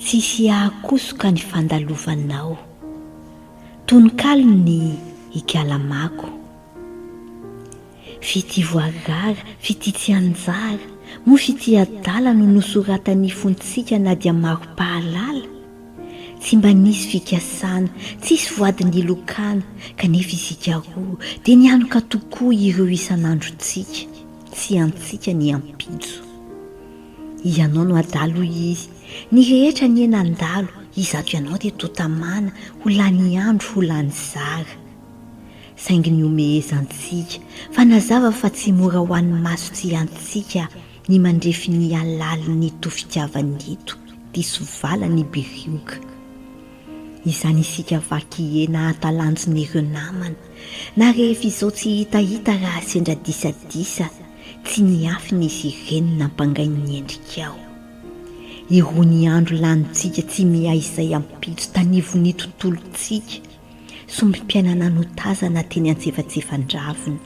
Tsisy ahakosoka ny fandalovanao. Tononkalon'ny Ikalamako. Fitia voarara, fitia tsy anjara, moa fitia adala no nosoratan'ny fontsika na dia maro-pahalala? Tsy mba nisy fikasana, tsisy voady nilokana, kanefa isika roa dia nianoka tokoa ireo isan'androntsika sy antsika ny ampitso. Ianao no adala hoy izy, ny rehetra anie nandalo izato ianao dia toa tamana ho lany andro ho lany zara. Saingy nihomehezantsika fa nazava fa tsy mora ho an'ny maso tsy antsika Ny mandrefy ny halalin'ny to-fitiavany eto dia sovalan'i Birioka. Izany isika vaky hena hatalanjon'ireo namana, na rehefa izao tsy hitahita raha sendra disadisa tsy niafina izy ireny nampangain'ny endrikao. Irony andro lanintsika tsy miha izay ampitso tanivon'ny tontolontsika. Sombim-piainana notazana teny antsefatsefandraven.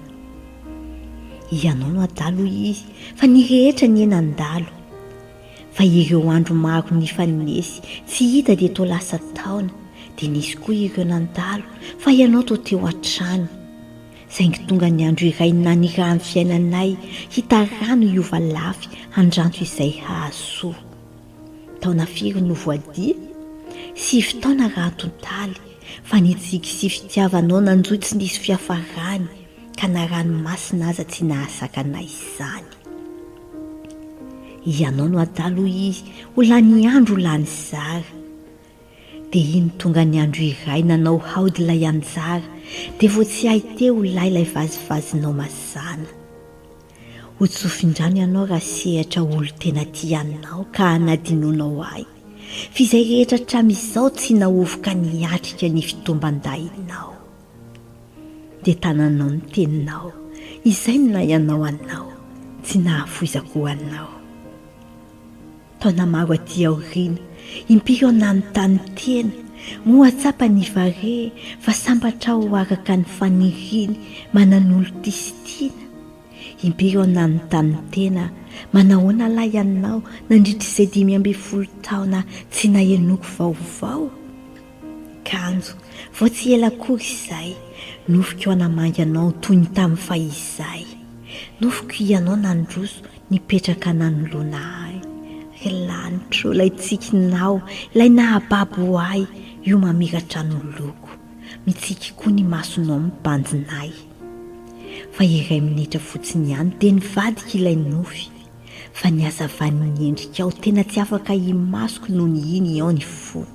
Ianao no adala hoy izy fa ny rehetra anie nandalo. Fa ireo andro maro nifanesy tsy hita dia toa lasa taona dia nisy koa ireo nandalo fa ianao toa teo hatrany. Saingy tonga ny andro iray nanirahan'ny fiainanay hita rano hiova lafy handranto izay hahasoa. Taona firy no voadia? Sivy taona raha antontaly, fa ny tsiky sy fitiavanao nanjohy tsy nisy fiafarany, ka na ranomasina aza tsy nahasakana izany. Ianao no adala hoy izy, ho lany andro ho lany zara. Dia iny tonga ny andro iray nanao haody ilay anjara, dia vao tsy hay teo ho lay ilay vazivazinao mazàna. Ho tsofindrano ianao raha sehatra olon-tena tia anao ka hanadinoanao ahy, f'izay rehetra hatramin'izao tsy nahovoka niatrika ny fitomban-dahinao. Dia tananao ny teninao, izay no nahay anao anao, tsy nahafoizako ho anao. Taona maro aty aoriana, impiry aho nanontany tena, moa tsapan' i Vare fa sambatra aho araka ny faniriany manan'olo-tia sy tiana? Impiry aho nanontany tena, manahoana lahy ianao nandritra izay dimy ambin'ny folo taona tsy nahenoko vaovao? Kanjo, vao tsy ela akory izay, nofiko hanamangy anao toy ny tamin'ny fahizay. Nofiko hianao nandroso nipetraka nanoloana ahy. Ry lanitro, ilay tsikinao, ilay nahababo ahy, io mamiratra noloko. Mitsiky koa ny masonao mibanjina ahy. Fa iray minitra fotsiny ihany dia nivadika ilay nofy. Fa ny hazavan'ny endrikao tena tsy afaka imasoko nony iny ao ny fo.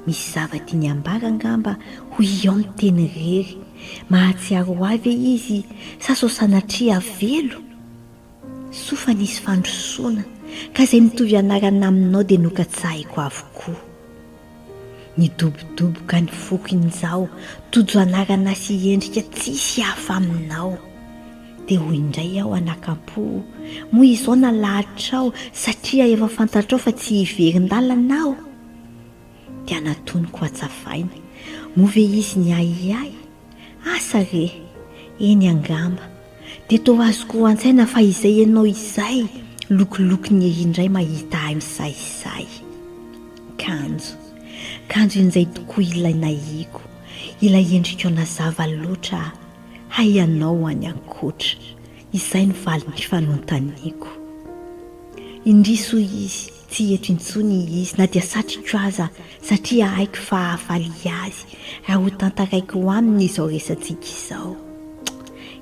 Misy zava-tiany ambara angamba hoy iao miteny irery, mahatsiaro ho ahy ve izy sa sao sanatria avelo? Soa fa nisy fandrosoana ka izay mitovy anarana aminao dia nokatsahiko avokoa. Nidobodoboka any foko injao tojo anarana sy endrika tsisy hafa aminao. Dia hoy indray aho anakam-po, Moa izao nalahatra-aho satria efa fantatrao fa tsy hiverin-dalana aho? Dia natoniko hatsavaina, Moa ve izy ny ahiahy? Asa re! Eny angamba. Dia toa azoko an-tsaina fa izay ianao izay, lokilokin'i Hehy indray mahita ahy misahisahy. Kanjo. Kanjo injay tokoa ilay nahiako, ilay endrikao nazava loatra. Hay ianao any ankoatra, izay no valin'ny fanontaniako. Indrisy hoy izy, tsy eto intsony izy, na dia satriko aza, satria haiko fa hahafaly azy raha hotantaraiko aminy izao resatsika izao.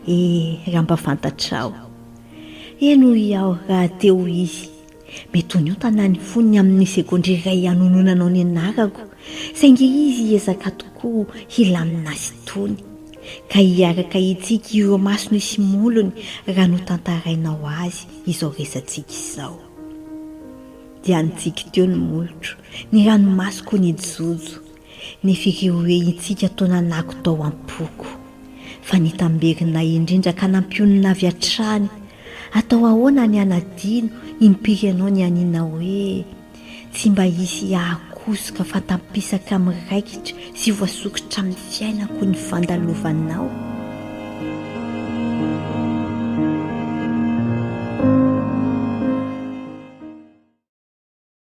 Eh, raha mba fantatrao! Eny hoy aho rahateo izy, Mety ho niontana ny fon'ny amin'ny segondra iray hanononanao ny anarako, saingy izy hiezaka tokoa hilamina azy itony. Ka hiaraka hitsiky ireo masony sy molony raha notantarainao azy izao resatsika izao. Dia nitsiky teo ny molotro, ny ranomasoko nijojo. Ny fireorehintsika toa nanako tao am-poko. Fa ny tamberinay indrindra ka nampionona avy hatrany, Atao ahoana ny hanadino impiry ianao nianiana hoe, Tsy mba hisy hahakosoka fantampisaka amin'ny raikitra sy voasokitra amin'ny fiainako ny fandalovanao?